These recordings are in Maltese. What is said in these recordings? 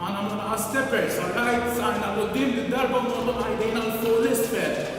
Magħna ma baqa' stepper, sa right, saqajna 'l quddiem, did-darba nogħlluha jdejna 'l fuq 'l isfel.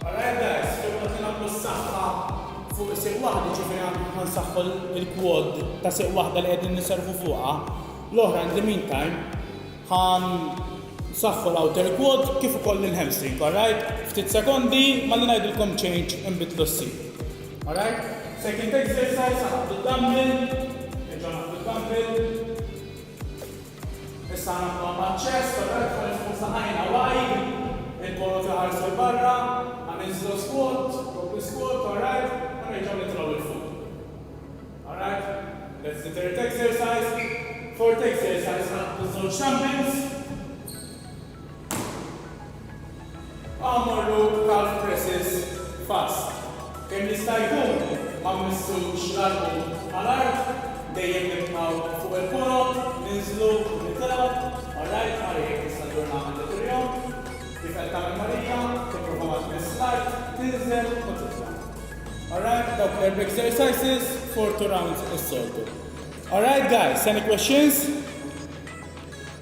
Alright guys, kemm qed inagħmlu s-saħħa fuq sieq waħda, jiġifieri hawn ħa nsaħħu l-quad ta' sieq waħda li qegħdin niservu fuqha, l-oħra in the meantime ħa nsaħħu l-outer quad kif ukoll il-hamstring, alright? Ftit sekondi malli ngħidilkom change inbidlu s-sieq. Alright? Second exercise, ħa naħdu d-dumbbell, nerġgħu naħdu d-dumbbell. Issa nagħmluha maċ-ċest ta' telefon li tkun f'saqajna while il-ponot iħarsu 'l barra, ħa ninżlu squat, doppju squat, alright, u nerġgħu nitilgħu 'il fuq. Alright, let's the third exercise, fourth exercise ħa naħdu żewġ dumbbells, Agħmlu calf presses fast. Kemm jista' jkun ma mmissux l-għadmu mal-art, dejjem nibqgħu fuq il-korob, ninżlu u nitilgħu, orrajt Mari hekk tista' ġġorr nagħmel dak il-jum, kif qed tagħmel Marija, tipprova ma tmiss l-art, tinżel u titla', orrajt dawk l-erb exercises for two rounds is-soltu. Orrajt guys, any questions?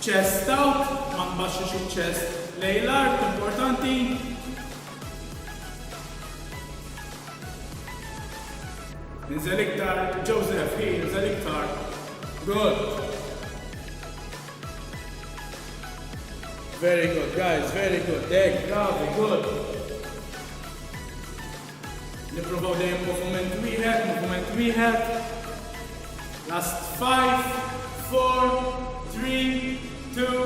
Chest out, ma tbaxxix iċ-chest lejn l-art, importanti. Inżel iktar, Joseph, hi, inżel iktar. Good. Very good, guys, very good. Deg, bravi, good. Nipprovaw dejjem moviment wieħed, moviment wieħed. Last five, four, three, two,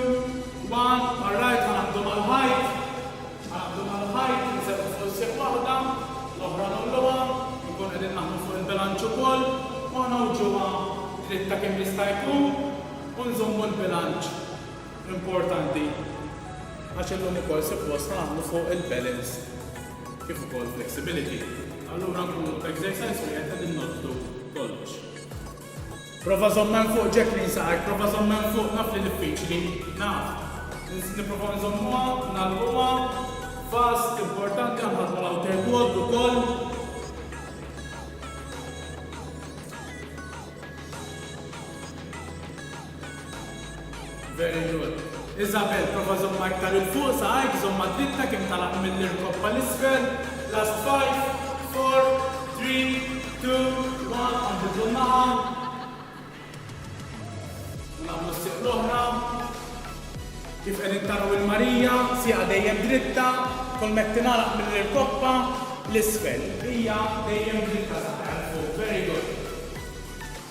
one. Alright, ħanabdu mal-ħajt. Ħanabdu mal-ħajt, nserħu fuq is-sieq waħda, l-oħra nolluha, nkun qegħdin naħdmu fuq il-bilanċ ukoll, u ħanawġuha dritta kemm jista' jkun u nżommu l-bilanċ importanti għax illum ukoll suppost ħanaħdmu fuq il-balance. kif ukoll flexibility, allura nkunu f'exercise wieħed qegħdin noddu kollox. Prova żomm hemm fuq Jacqueline saqajk, prova żomm hemm fuq naf li diffiċli, naf. Nipprovaw nżommuha, nagħlquha, fast, importanti għandha tmur outer quad ukoll. Very good. Isabel, prova żommha iktar 'il fuq, saqajk, żomm ma' drittek, kemm talab mill-irkopp għal isfel. Last five, four, three, two, one, u nbidlu n-naħa. U nagħmlu s-sieq l-oħra. Kif qegħdin taraw il-Marija, sieqha dejjem dritta, kull mekk tingħalaq mill-irkoppa l-isfel. Hija dejjem dritta saqajha 'l fuq. Very good.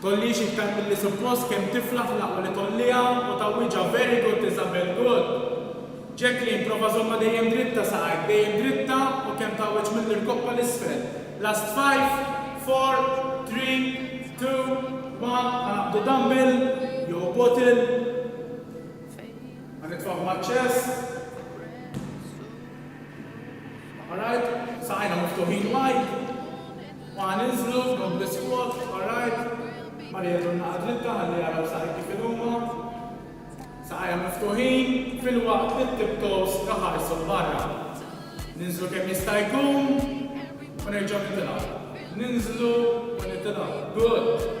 Tollix iktar milli suppost kemm tiflaħ fl-aqwa li tolliha u tgħawwiġha very good Isabelle good! Jacqueline prova żommha dejjem dritta saqajk dejjem dritta u kemm tgħawwiġ mill-irkopp għal isfel Last five, four, three, two, one Ħanaqbdu dumbbell jew bottle Ħanitfgħu maċ-chest Alright, saqajna miftuħin wide. Waħna ninżlu minn biskot f'ħar art, Marija jkollna għażlitha ħalli jaraw saqajk kif inhuma, saqajha miftuħin, filwaqt li t-tiptoes iħarsu 'l barra. Ninżlu kemm jista' jkun u nerġgħu nitilgħu. Ninżlu u nitilgħu. Good!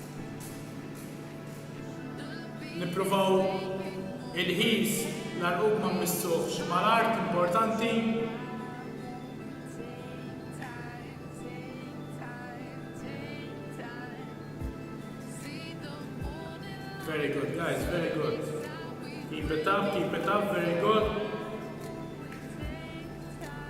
Nippruvaw il-ħis l-għarqub ma mmissuhx mal-art importanti. Very good guys, very good. Keep it up, keep it up, very good.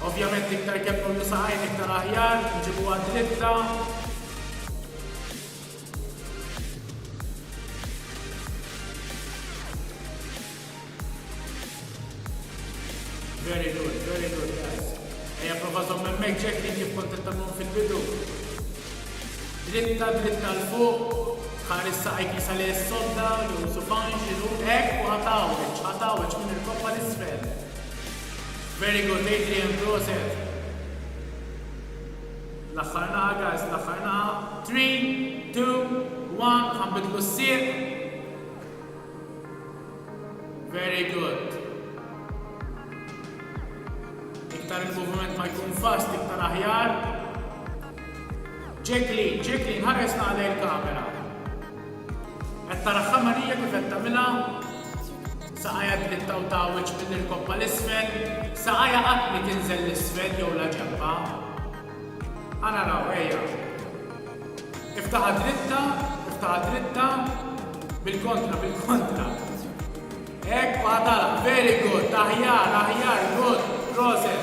Ovvjament iktar kemm nollu saqajn iktar aħjar, nġibuha dritta. Very good, very good guys. Ejja prova żomm hemmhekk ġekki kif kont tagħmlu fil-bidu. Dritta, dritta l fuq, ħares saqajk jisa li s-sodda, jew subajn, xinu, ek, u ħatawġ, ħatawġ minn il-koppa l-isfel. Very good Adrian proset. L-aħħar naħa guys, l-aħħar naħa. Three, two, one, ħanbidlu s-sieq. Very good. Iktar il-movement ma jkun fast, iktar aħjar. Ġekli, ġekli, nħares naħle il-kamera. Għetta raħħa Marija kif għetta mila. Saqajha tlittaw ta' wiċċ minn irkoppha 'l isfel, saqajha qatt mi tinżel 'l isfel jew la ġenbha. A naraw, ejja. Iftaħha dritta, iftaħha dritta, bil-kontra, bil-kontra. Hekk, u ħa tagħlaq. Very good, aħjar, aħjar, good, proset.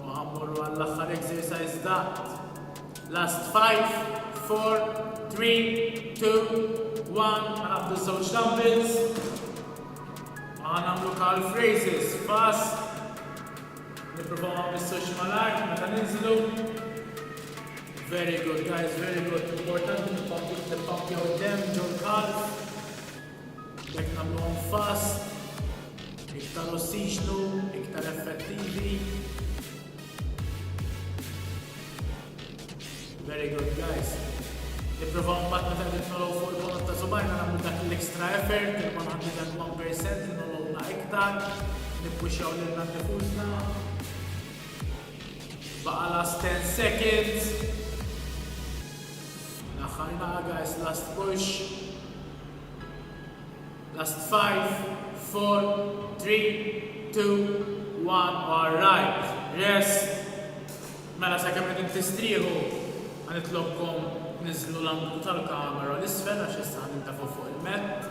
Imma ħa mmorru għall-aħħar exercise daqt. Last five, four, three, two, one, ħa nagħmlu żewġ dumbbells. Ma ħa nagħmlu calf raises, pass. Nipprovaw ma nmissux mal-art meta ninżlu. Very good guys, very good. Importanti nippampjaw id-dem ġol-calf. B'hekk nagħmluhom fast, iktar ossiġnu, iktar effettivi. Very good guys. Nipprovaw mbagħad meta qed nolow fuq il-bonot ta' subajna nagħmlu dak l-extra effort, il-101% li nolowna iktar, nippuxxaw lilna nifusna. Baqa' last 10 seconds. L-aħħar naqa' guys, last push. Last five, four, three, two, one, all right, rest. Mela sakemm qegħdin tistrieħu ħa nitlobkom tniżżlu l-anglu tal-kamera 'l isfel għax issa ħa nintefu' fuq il-mett.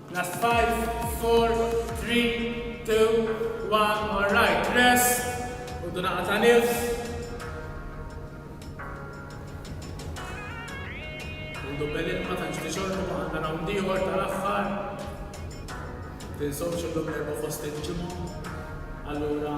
Last five, four, three, two, one, more right, rest, ħudu nagħqa ta' nifs. Ħudu belin ma tantx tixorbu ma għandna round ieħor tal-aħħar. Tinsewx illum l-erba' fost il-ġimgħa. Allura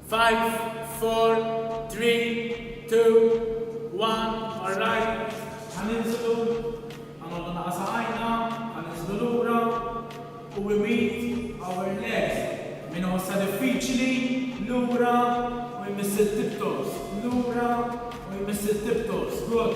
Five, four, three, two, one, alright. Ħa ninżlu, ħa noqogħdu naqa' saqajna, ħa ninżlu lura, u we meet our legs, min iħossha diffiċli, lura u jmiss it-tiptoes, lura u jmiss it-tiptoes, good.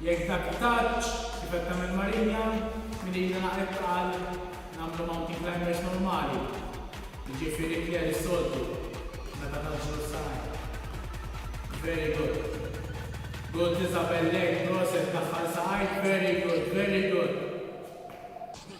Jekk dak it-touch, kif qed tagħmel Maria, minn ida naqgħet tqal, nagħmlu mountain climbers normali, jiġifieri clear is-soltu, meta tgħaġġlu s-saqajn. Very good. Good Isabel lejk, proset, daħħal saqajk, very good, very good.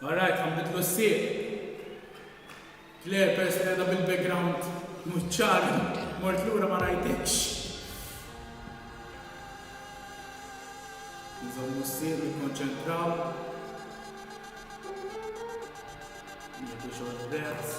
All right, ħa nbiddlu s-sieq. Claire, peress li qiegħda bil-background mhux ċar, mort lura ma rajtekx. Nżommu s-sieq, nikkonċentraw. Nieħdu xogħol prezz.